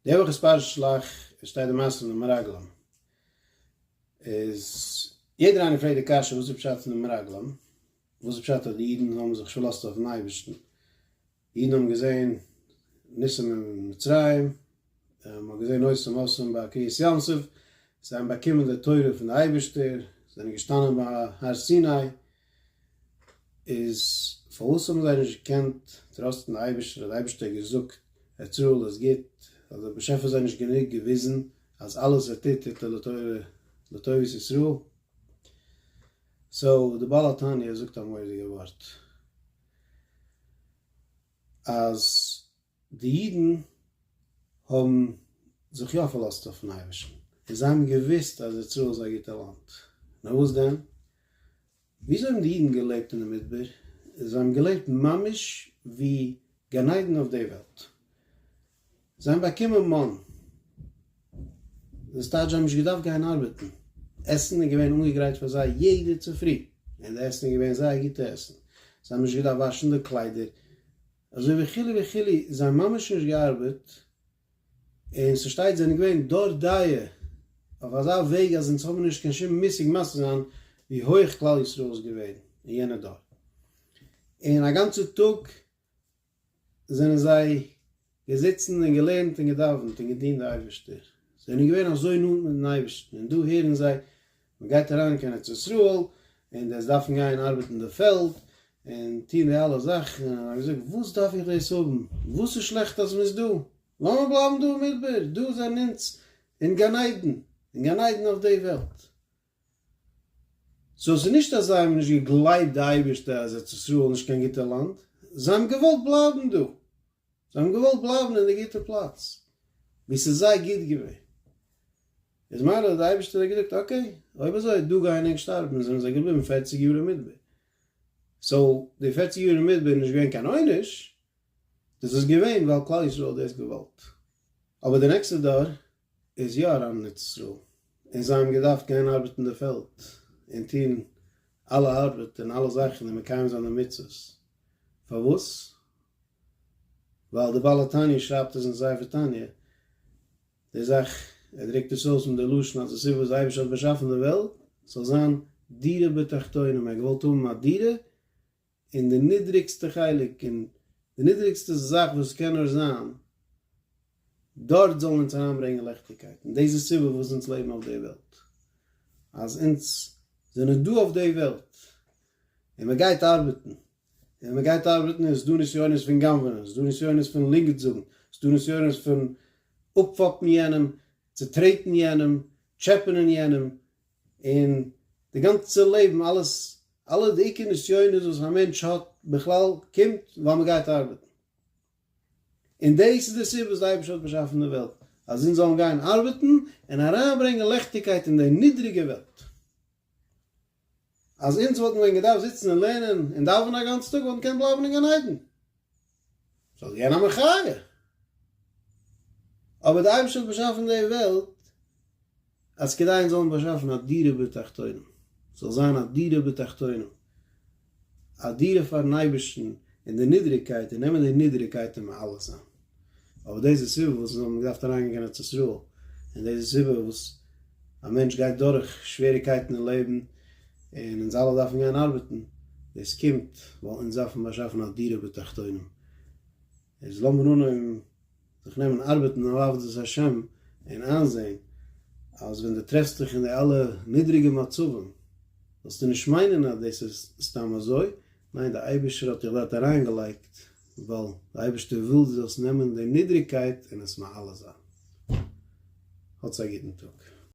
די וואך איז פרשת שלח, עס שטייט די מעשה פון די מרגלים, איז יעדער איינער פרעגט די קשיא וואס איז פשט פון די מרגלים, וואס איז פשט אז די אידן האבן זיך פארלאזט אויפן אייבערשטן, די אידן האבן געזען ניסים אין מצרים, מען האט געזען עושים מעשים ביי קריעת ים סוף, זיי האבן באקומען די תורה פון די אייבערשטער, זיי זענען געשטאנען ביי הר סיני, און איז פארוואס האבן זיי נישט געקענט טראסטן די אייבערשטער אז די אייבערשטער האט געזאגט אז צרה'לע איז גוט? האט דער באשעפער זיי נישט גענוג געוויזן אז אלעס ער טוט טוט ער לטובת ישראל? סאו די בעל התניא זאגט א מורא'דיגע ווארט אז די אידן האבן זיך יא פארלאזט אויפן אייבערשטן, און זיי האבן געוואוסט אז יצר'ל איז א גוטע לאנד. נאר וואס דען? וויאזוי האבן די אידן געלעבט אינעם מדבר? זיי האבן געלעבט ממש ווי גן עדן אויף די וועלט. זיי האבן באקומען מן. דאס טייטש זיי האבן נישט געדארפט גיין ארבעטן. עסן איז געווען אנגעגרייט פאר זיי יעדע צופרי, און די עסן איז געווען זייער גוטע עסן. זיי האבן נישט געדארפט וואשן די קליידער. אזוי וכו' וכו', זיי האבן ממש נישט געארבעט, און ס'שטייט זענען געווען דור דאיה אויף אזא וועג אז אונז האבן נישט קיין שום מושג מסביר זיין ווי הויעך כלל ישראל איז געווען אין יענע דור, און א גאנצע טאג זענען זיי געזיצן און געלערנט און געדאווענט און געדינט די אייבערשטער, זענען געווען אזוי נאנט מיטן אייבערשטן, און דא הערן זיי מען גייט אריין קיין ארץ ישראל און דאס דארפן גיין ארבעטן די פעלד און טון די אלע זאכן, און ער האט געזאגט וואס דארף איך דאס האבן, וואס איז שלעכט אז מען איז דא, לאמיר בלייבן דא אין מדבר, דא זענען אונז אין גן עדן, אין גן עדן אויף די וועלט. סאו ס'איז נישט אז זיי האבן נישט געגלייבט די אייבערשטער אז ארץ ישראל איז נישט קיין גוטע לאנד, זיי האבן געוואלט בלייבן דא, זיי האבן געוואלט בלייבן אין די גוטע פלאץ ווי ס'איז זיי גוט געווען, איז מילא האט די אייבישטער געזאגט אקעי אויב אזוי דא גייען ענק שטארבן און זענען זיי געבליבן פערציג יאר אין מדבר, סאו די פערציג יאר אין מדבר איז נישט געווען קיין עונש, דאס איז געווען ווייל כלל ישראל האט דאס געוואלט, אבער די נעקסטע דור איז יא אריין אין ארץ ישראל און זיי האבן געדארפט גיין ארבעטן אין די פעלד און טון אלע ארבעט און אלע זאכן און מקיים זיין די מצוות, פארוואס? ווייל די בעל התניא שרייבט עס אין ספר תניא, די זאך ער דרוקט עס אויס מיט די לשון אז די סיבה וואס די אייבערשטער האט באשאפן די וועלט זאל זיין דירה בתחתונים, ער האט געוואלט האבן א דירה און די נידריגסטע חלק און די נידריגסטע זאך וואס קען נאר זיין, דארט זאלן אונז אריינברענגען ליכטיגקייט, און דאס איז סיבה פארוואס אונז לעבן אויף די וועלט, אז אונז זענען דא אויף די וועלט, און מען גייט ארבעטן, און ווען מען גייט ארבעטן איז דא נסיונות פון גנב'נען, איז דא נסיונות פון לינגעדט זאגן, איז דא נסיונות פון אפפאפן יענעם, צוטרעטן יענעם, טשעפענען יענעם, און די גאנצע לעבן אלעס אלע די עיקר נסיונות וואס א מענטש האט בכלל קומט ווייל מען גייט ארבעטן. און דאס איז די סיבה וואס די אייבערשטער האט באשאפן די וועלט אז אונז זאלן גיין ארבעטן און אריינברענגען לעכטיגקייט אין די נידריגע וועלט. אז אונז וואלטן ווען געדארפט זיצן און לערנען און דאווענען א גאנצן טאג וואלט מען געקענט בלייבן אין גן עדן. זאל גיין א מחיה. אבער די אייבערשטער האט באשאפן די וועלט אז כדי אונז זאלן באשאפן א דירה בתחתונים, ס'זאל זיין א דירה בתחתונים, א דירה פארן אייבערשטן אין די נידריגקייט און נעמען די נידריגקייט און מעלה זיין. אבער דאס איז די סיבה וואס זיי האבן געדארפט אריינגיין קיין ארץ ישראל, און דאס איז די סיבה וואס א מענטש גייט דורך שוועריקייטן אין לעבן, און אונז אלע דארפן גיין ארבעטן, דאס קומט ווייל אונז דארפן באשאפן א דירה בתחתונים, איז לאמיר אנהויבן זיך נעמען ארבעטן אויף עבודת השם, און איינזען אז ווען דו טרעפסט דיך אין די אלע נידריגע מצבים, זאלסטו נישט מיינען אז דאס איז סתם אזוי, ניין, דער אייבערשטער האט דיך דארט אריינגעלייגט ווייל די אייבערשטער וויל דו זאלסט נעמען די נידריגקייט און עס מעלה זיין. האטס א גוטן טאג.